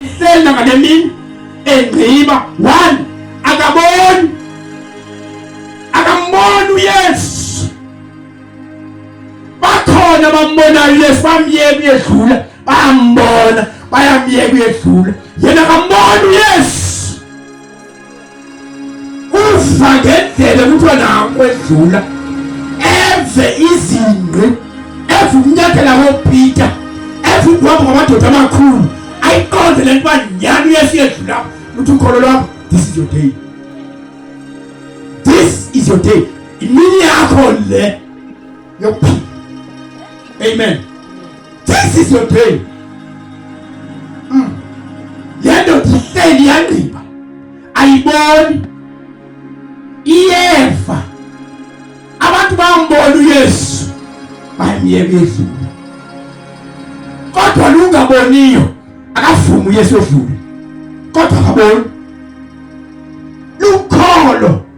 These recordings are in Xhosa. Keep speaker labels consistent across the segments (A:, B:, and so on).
A: iselda ngale mini engqiba one akaboni akamboni uyesu bakhona bambonayo uyesu bamyeka uyedlula bayambona bayamyeka uyedlula yena akamboni uyesu uva ngendlela kuthiwa nakwedlula eve izingqi eve ukunyathela kopeter eve ukuhamba kwamadoda amakhulu ayiqonde le nto uba nyhani uyesiyedlula luthi ukholo lwakho this is your day this is your day imini yakho le Your Amen. This is your pain. Mm. Yendo tiseli yandiba. Ayiboni. Iyefa. Abantu bambona uYesu. Bayimyeka izulu. Kodwa lungaboniyo akavumi uYesu odlule. Kodwa akaboni.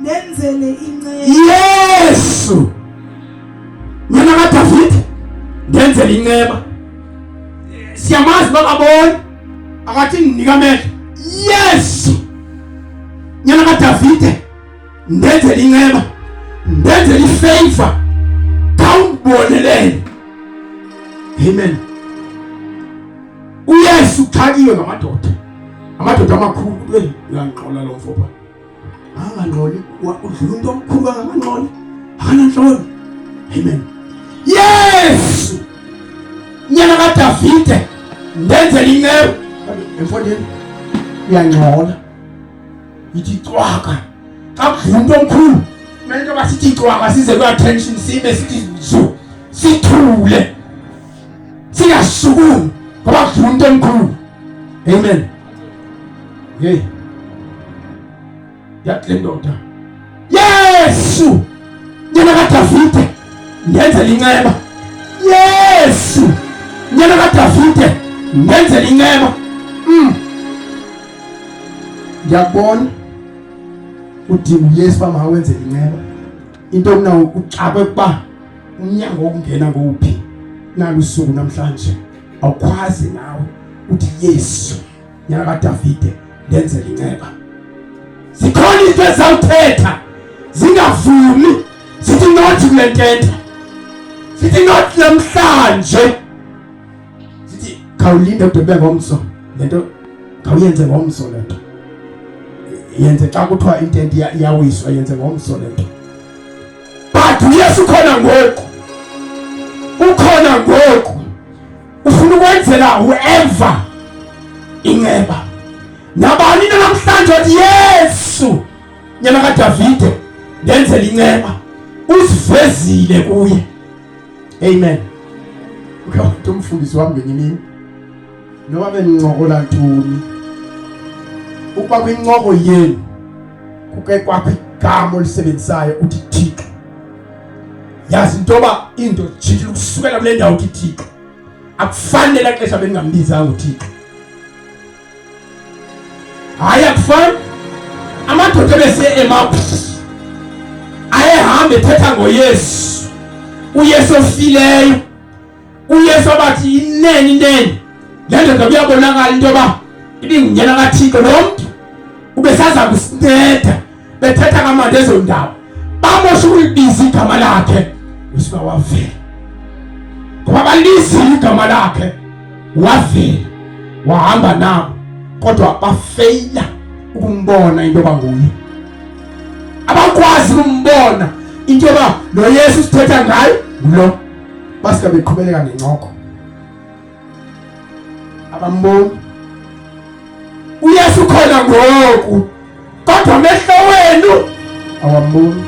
B: Nenzele inceba. Yesu.
A: Mina ka David ndenzele inceba. Siyamazi bakaboni akathi ndinika amehlo. Yesu. Nyana ka David ndenzele inceba. Ndenzele ifavor. Kawubonelele. Amen. uyesu uxhakiwe ngamadoda amadoda amakhulu eyi uyangixola lo mfo phaa angangxoli udlula umntu omkhulu kangangangxoli akanantloni amen yes nyana kadavide ndenzela inceku emfondini uyangxola yithi cwaka xa kudlula umntu omkhulu kumele into yoba sithi cwaka size kwi-attention sibe sithi zu sithule singasukumi ngoba kudlula umntu omkhulu amen Hey. Yake ndoda. Yesu! Nyana katafite. Nyenze lingema. Yesu! Nyana katafite. Nyenze lingema. Mm. Yabona udinga uyesu uba mawenze inceba into okuna uxakwe kuba umnyango wokungena ngowuphi nalusuku namhlanje awukwazi nawe uthi Yesu nyana kaDavide ndenze linceba zikhona izinto ezawuthetha zingavumi zithi not kule ntetha zithi not namhlanje zithi khawulinde kude kube ngomso le nto khawuyenze ngomso le nto yenze xa kuthiwa intente iyawiswa yenze ngomso le nto but uyesu ukhona ngoku ukhona ngoku ufuna ukwenzela whoever inceba nabani na namhlanje othi yesu nyana kadavide ndenzela inceba usivezile kuye amen uke wathi umfundisi wami ngenye imini noba benincokola ntoni ukuba kwincoko yenu kuke kwakho igama olisebenzisayo uthi thixo yazi into yoba into jijile ukusukela kule ndawo uthi thixo akufani lela xesha beningambiza uthixo hayi akufani amadoda ebesiye emaphu ayehamba ethetha ngoyesu uyesu ofileyo uyesu abathi inene inene le ndoda kuyabonakala into yoba ibingunyana kathixo lo mntu ubesaza kusinceda bethetha kamandi ezo ndawo bamosha ukulibiza igama lakhe usuka wavela ngoba balizile igama lakhe wavela wahamba nabo kodwa bafeyila ukumbona into yoba nguye abakwazi ukumbona into yoba lo yesu sithetha ngayo ngulo Basika beqhubeleka nencoko. Abamboni. UYesu khona ngoku. Kodwa amehlo wenu awamboni.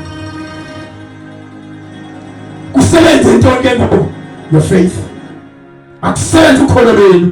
A: Kusebenze into ke ngoku your faith. Akusebenze ukholo lwenu.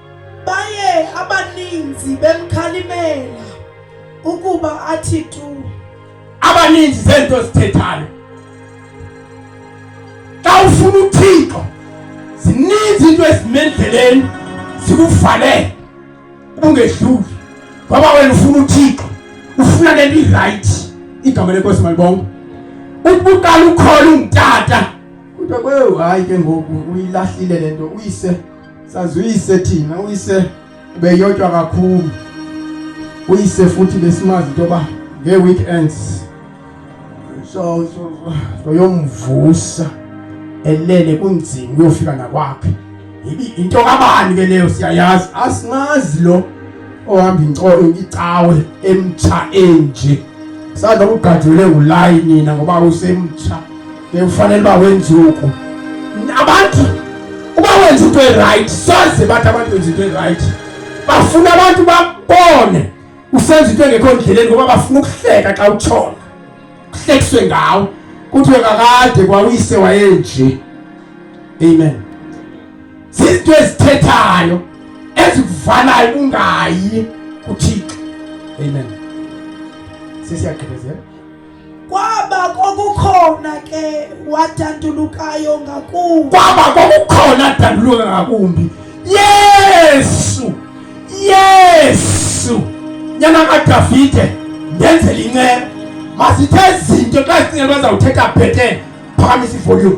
B: Baye abaninzi bemkhalimela ukuba athi tu. Abaninzi
A: zento zithethayo. Xa ufuna uThixo zininzi into ezimendleleni zikufanele ubungedluli ngoba wena ufuna uThixo ufuna lento iright igama lenkosi malibonke ubuqala ukhona ungitata kodwa kwewu hayi ke ngoku uyilahlile lento uyise sazi uyise thina uyise ubeyotywa kakhulu uyise futhi besimazi into yoba ngee-weekends so soyomvusa elele kunzima uyofika nakwakhe yibi into kabani ke leyo siyayazi asimazi lo ohamba inkolo icawe emtsha enje sadla ugadlule ulayini nina ngoba usemtsha bekufanele uba wenze oku abantu uba wenza into erayithi soze bathi abantu benza into erayithi bafuna abantu babone usenza into engekho ndleleni ngoba bafuna ukuhleka xa utshona kuhlekiswe ngawo kuthiwe kakade kwawuyise wayenje amen zizinto ezithethayo ezikuvalayo ungayi kuthixo amen sesiyagqibezela Kwaba
B: kwakukhona ke wadandulukayo ngakumbi. Kwaba kwakukhona
A: adanduluka ngakumbi. Yesu! Yesu! Nyana kaDavide ndenzela inceba. Masithe izinto xa sicinga bazawuthetha bhetele phakamisa ivolume.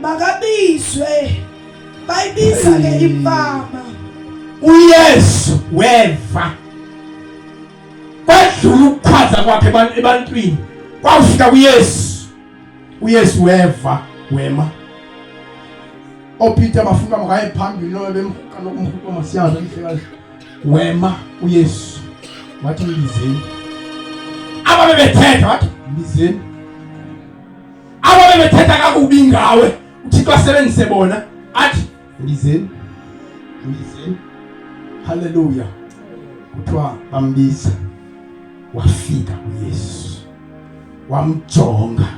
B: makabizwe bayibiza ke imfama
A: uyesu weva kwadlula ukukhwaza kwakhe ebantwini kwafika kuyesu uyesu weva wema opeter bafuna makaye phambili loyo bemhuqa nokumhuqa masiyazi emhlekazi wema uyesu wathi mbizeni ababe bethetha wathi mbizeni aba bebethetha kakubi ngawe uthixo asebenzise bona athi ndizeni ndizeni haleluya kuthiwa bambiza wafika uyesu wamjonga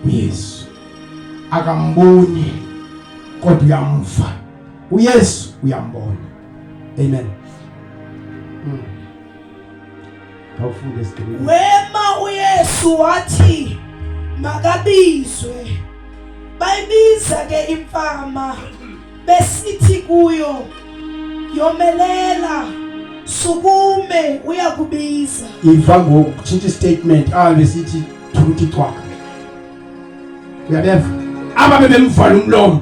A: uyesu akamboni kodwa uyamva uyesu uyambona amen mm. khawufunde screen wema
B: uyesu wathi makabizwe bayibiza ke imfama besithi kuyo yomelela sukume uyakubiza iva ngoku
A: tshintsha istatement ahambe sithi thukuthi cwaka uyabeva aba bebemvala umlomo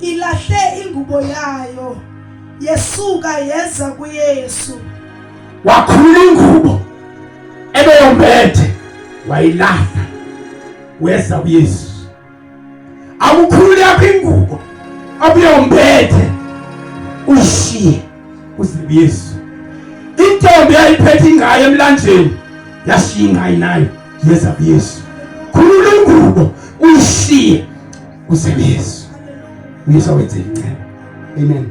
B: ilahle ingubo yayo yesuka yeza kuyesu wakhulula
A: ingubo ebeyombethe wayilahla weza kuyesu awukhulule yakho ingubo abuyombethe ushiye uze kuyesu intombi yayiphethe ingayo emlanjeni yashiya ingayi nayo yeza kuyesu khulula ingubo uyishiye usebeyesu uyesu awenze inceba amen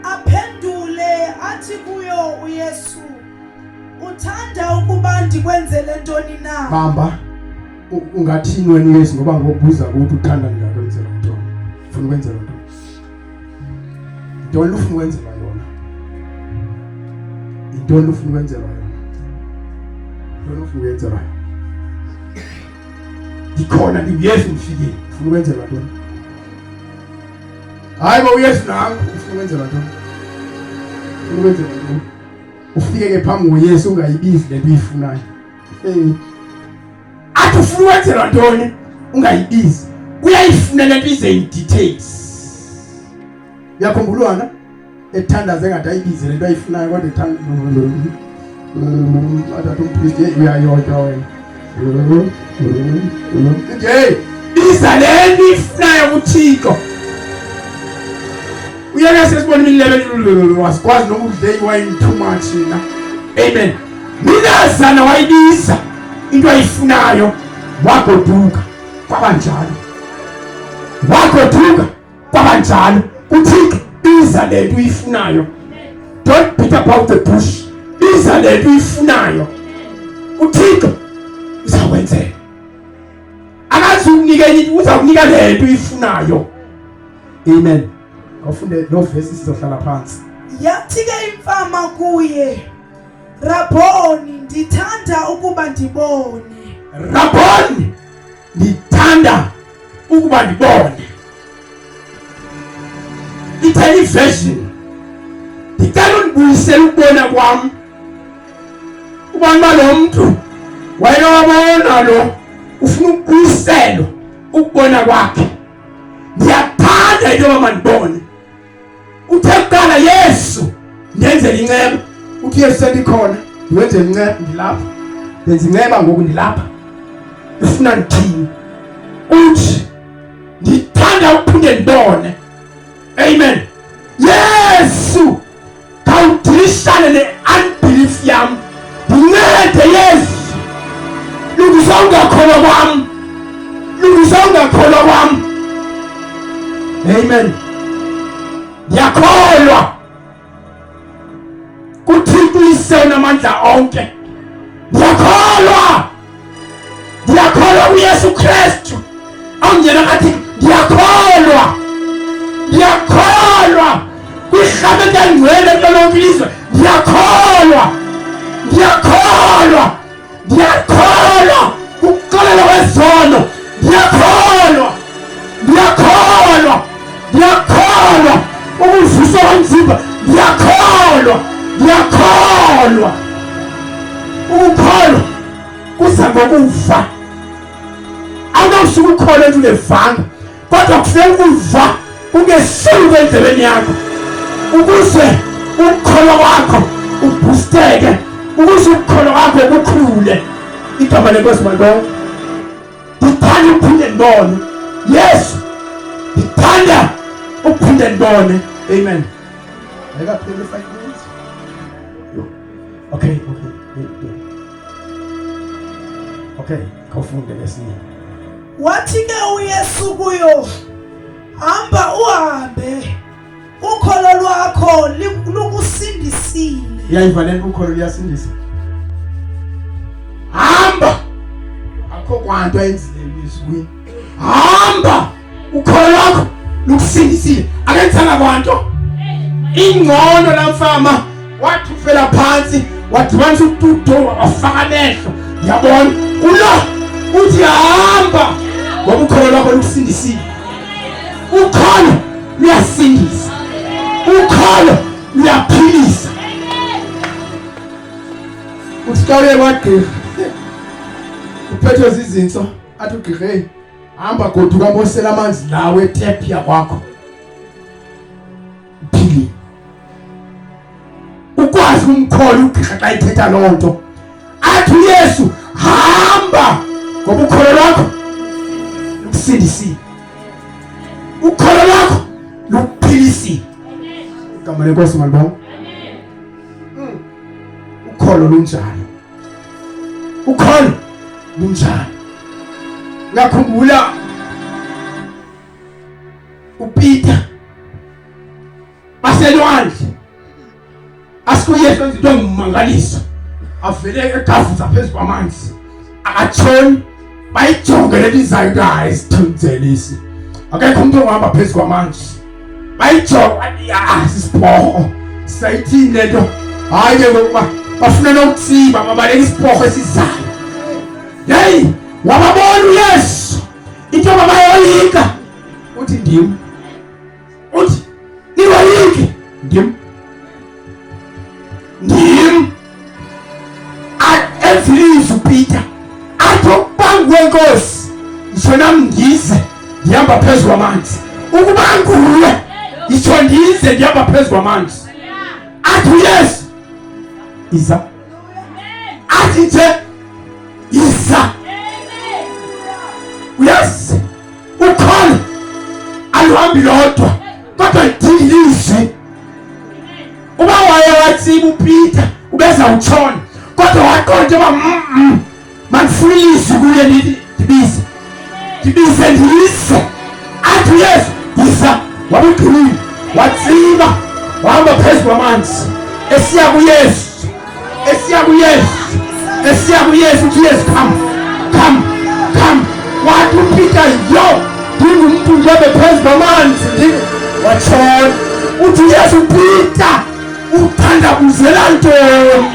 B: aphendule athi kuyo uyesu uthanda ukuba ndikwenzele ntoni na hamba
A: ungathini wena uyesu ngoba ngobuza ukuthi uthanda ndingakwenzela ntoni ufuna ukwenzela ntoni ntoni ufuna ukwenzela yona yintoni ufuna ukwenzela yona ntoni ufuna ukwenzela yona ndikhona ndinguyesu ndifikile ufuna ukwenzelwa ntoni hayi ba uyesu nam ufuna ukwenzelwa ntoni ufuna ukwenzelwa ntoni ufike ke phambi ngoyesu ungayibizi le nto uyifunayo um athi ufuna ukwenzelwa ntoni ungayibizi uyayifuna le nto ize in details uyakhumbulwana ethandaze ngathi ayibize le nto ayifunayo kodwa ethanda athatha umpristi yeyi uyayodwa wena nje biza le nto ifunayo kuthixo uyeke sesibona imilebelulululu wasikwazi noma udle iwayini too much na amen minazana wayibiza into ayifunayo wagoduka kwabanjalo wagoduka kwabanjalo uthixo iza le nto uyifunayo don't beat about the bush iza le nto uyifunayo uthixo uzakwenzela akazi ukunike enye uza kunika le nto uyifunayo amen awufunde lo vesi sizohlala phansi yathi ke
B: imfama kuye rabhoni ndithanda ukuba ndibone rabhoni
A: ndithanda ukuba ndibone itelevision ndicela undibuyisele ukubona kwam ubana lo mntu wayena wabona lo ufuna ukubuyiselwa ukubona kwakhe ndiyathanda into yoba mandibone Uthe kuqala Yesu ndenzele inceba. Uthi Yesu sendikhona ndiwenze inceba ndilapha. Ndenza inceba ngoku ndilapha. Ufuna ndithini? Uthi ndithanda ukuphinde ndibone. Amen. Yesu khawudirishane ne-unbelief yam ndincede yezi lungisa ungakholwa kwam lungisa ungakholwa kwam amen ndiyakholwa kuthixo uyisena amandla onke ndiyakholwa ndiyakholwa kuyesu krestu awungena ngathi ndiyakholwa ndiyakholwa kwihlamethi yangcwele kulolonke ilizwe ndiyakholwa ndiyakholwa ndiyakholwa kuxolela kwezono ndiyakholwa ndiyakholwa ndiyakholwa ukuvusa kwanzima ndiyakholwa ndiyakholwa ukukholwa kuza ngokuva awunawusuke ukholwa into ungevanga kodwa kufuneka ukuva kungesulu kwendlebeni yakho ukuze ukukholwa kwakho ubhusteke ukuze ukukholwa kwakho kukhule igama lenkosi malibonke ndithanda uphinde ndibone yesu ndithanda uphinde ndibone amen ayikapheli five minutes okay okay okay khawufunde lesinye wathi
B: ke uyesu kuyo hamba uhambe Ukholo lwakho lukusindisile. Uyayiva le
A: nto ukholo luyasindisa. Hamba. Akho kwanto ayenzile izwi. Hamba. Ukholo lwakho lukusindisile. Akenzanga kwanto. Ingcono la mfama. wathi ufela phantsi wadibanisa ututo wafaka amehlo yabona kulo uthi hamba ngoba ukholo lwakho lukusindisile ukholo luyasindisa ukholo luyaphilisa uthi xa uye kwagqirha uphethwe zizintso athi ugqirha eyi hamba goduka mosela amanzi lawo etephi yakwakho uphilile ukwazi umkholi ugqirha xa ithetha loo nto athi uyesu hamba ngoba ukholo lwakho lukusindisile ukholo lwakho lukuphilisile igama lenkosi malibona hmm. ukholo lunjalo ukholo lunjalo ngakhumbula uPeter baselwandle asikuyesu enza into engumangalisa avele egavuza phezu kwamanzi akatshoni bayijonge lelizayo into ayisithunzelisi akekho umntu ongahamba phezu kwamanzi bayijonge asisiphorho sayithini le nto hayi ke ngokuba bafuna nokutsiba babaleka isiphorho esizayo yeyi wababona uyesu Into mabayoyika uthi ndim. Uthi niwoyiki ndim. Ndim. Ezilifu Peter. Atho bangwe nkosi. Ngisona mndize ndihamba phezulu amanzi. Ukuba nguwe ngisho ndize ndihamba phezulu amanzi. Athi yes. Isa atite iza uyasi ukhona aluhambi lodwa kodwa idinga ilizwi uba waye watsiba upita ubeza utshona kodwa waqonda uba mandifuna ilizwi kuye ndibize ndibize ndiyise athi uyesu yisa wabugqinile watsiba wahamba phezu kwamanzi esiya kuyesu esiya kuyesu esiya kuyesu uthi yesu come come come wathi upita yo ndingumntu ndobe phezu kwamanzi watshona uthi uyesu upita uthandabuzelantoni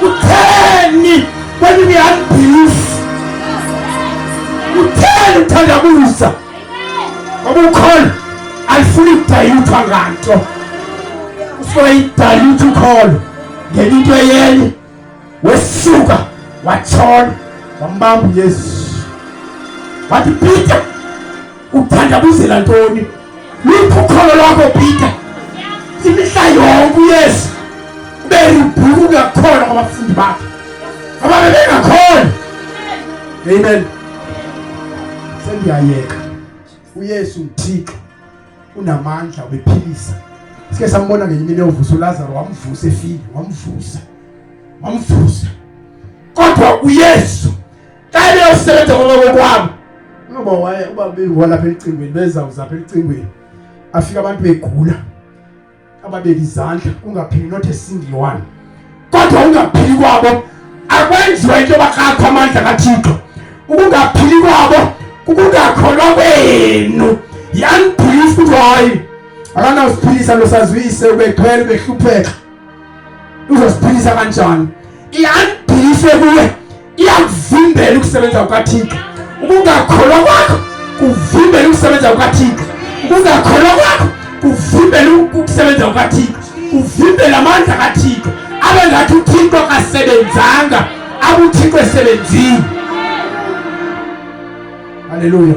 A: utheni Kwani ni unbelief? Utheni uthandabuza? Ngoba ukhona alifuni kudayithwa nganto. Ufuna idayitha ukhona ngenye into eyenye wesuka watshona wambamba uYesu. Wathi Peter Uthandabuzela ntoni? Luphi ukholo lwakho Peter? Imihla yonke uyesu beribhuku ngakhona kwabafundi bakhe ababe bengakhona amen sendiyayeka uyesu ngithixo unamandla ubephilisa sike sambona ngenye imini eyovusa ulazaro wamvusa efile wamvusa wamvusa kodwa uyesu xa ebeyosisebenza konokokwam unoba waye uba beyihola apha elicingweni bezawuza apha elicingweni afike abantu begula ababeka izandla kungaphili not a single one kodwa ungaphili kwabo akwenziwa into yoba kakho amandla kathixo ukungaphili kwabo kukungakholwa kwenu yandiphilisa ukuthi hayi akanawusiphilisa losazuyise ubethwele ubehlupheka uzosiphilisa kanjani iyandiphilise kuye iyakuvimbela ukusebenza kukaThixo ukungakholwa kwakho kuvimbela ukusebenza kukaThixo ukungakholwa kwakho kuvimbela ukusebenza kukaThixo kuvimbela amandla kaThixo abe ngathi uThixo akasebenzanga abe uThixo esebenzile haleluya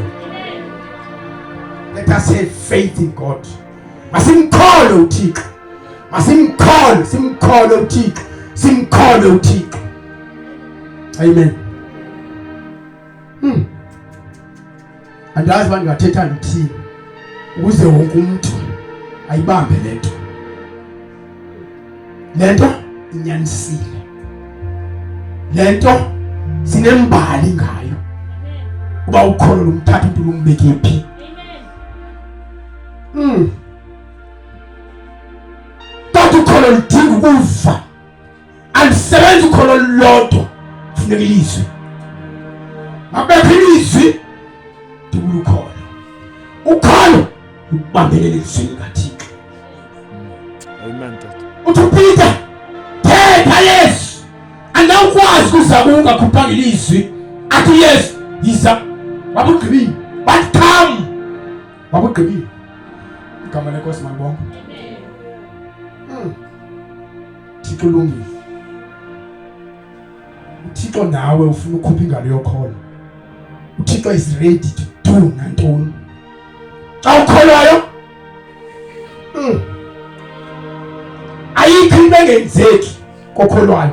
A: let us have faith in God masimkhole uThixo masimkhole simkhole uthixo simkhole uthixo amen hmm. andazi uba ndingathetha ndithini ukuze wonke umntu ayibambe le nto le nto inyanisile le nto sinembali ngayo uba ukholo lomthatha umntu lumbeke phi Tata ukholo ludinga ukuva, alisebenzi ukholo lulodwa, kufuneka ilizwi. Mabekho ilizwi ndibula ukholo. Ukholo lubambelele elizwini likaThixo.
C: Amen tata. Uthi
A: uPeter, thetha Yesu, andawukwazi kuzama ungakhuphanga ilizwi. Athi Yesu, yiza. Wabugqibile. Wabugqibile. Igama lenkosi malibonke. Hmm. Thixo ulungile. UThixo nawe ufuna ukhupha ingalo yokholo. UThixo is ready to do nantoni. Xa ukholwayo hmm. ayikho into engenzeki kokholwayo.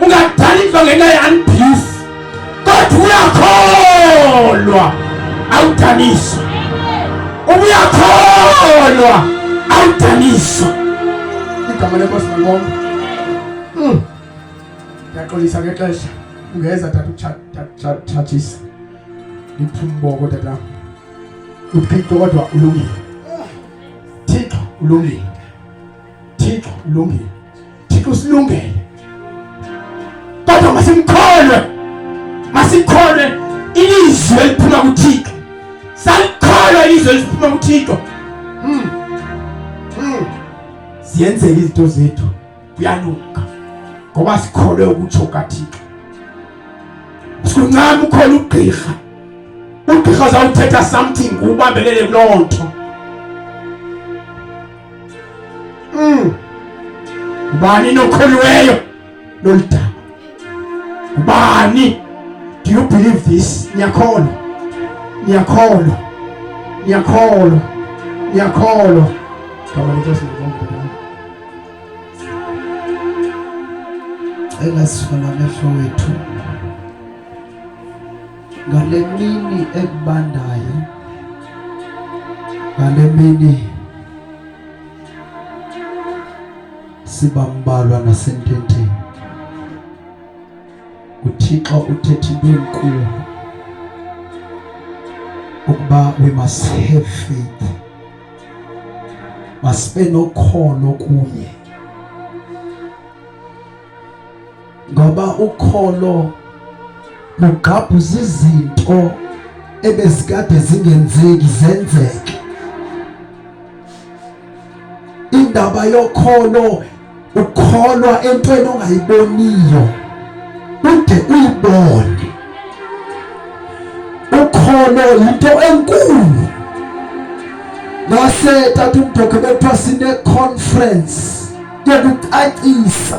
A: ungadaliswa ngenxa ye-unbelief kodwa uyakholwa awudaniswa ubuyakholwa awudaniswa igama lenkosi makonke hmm. ndiyaxolisa ngexesha ungeza tatuthatshisa ndiphumboko tatam uthixo kodwa ulungile thixo ulungile Thixo ulungile, Thixo usilungele, kodwa masimkholwe, masikholwe ilizwi eliphuma kuThixo, salikholwa ilizwi eliphuma kuThixo. Hmm. Hmm. Ziyenzeka izinto zethu, kuyalunga ngoba sikholwe ukutsho kaThixo. Sincane ukhona ugqirha ugqirha zawuthetha something ubambelele kuloo nto mm. ngubani nokholweyo loludaba ngubani do you believe this niyakholwa niyakholwa niyakholwa niyakholwa gama lenkosi ngokomdala
B: engasifuna amehlo wethu ngale mini ekubandayo ngale mini sibambalwa nasententeni uthixo uthetha into enkulu ukuba we must have faith masibe nokholo kuye ngoba ukholo lugqabhuza izinto ebezikade zingenzeki zenzeke indaba yokholo ukholwa entweni ongayiboniyo ude uyibone ukholo yinto enkulu ngase tata umdoke bekuthiwa sine conference yokucacisa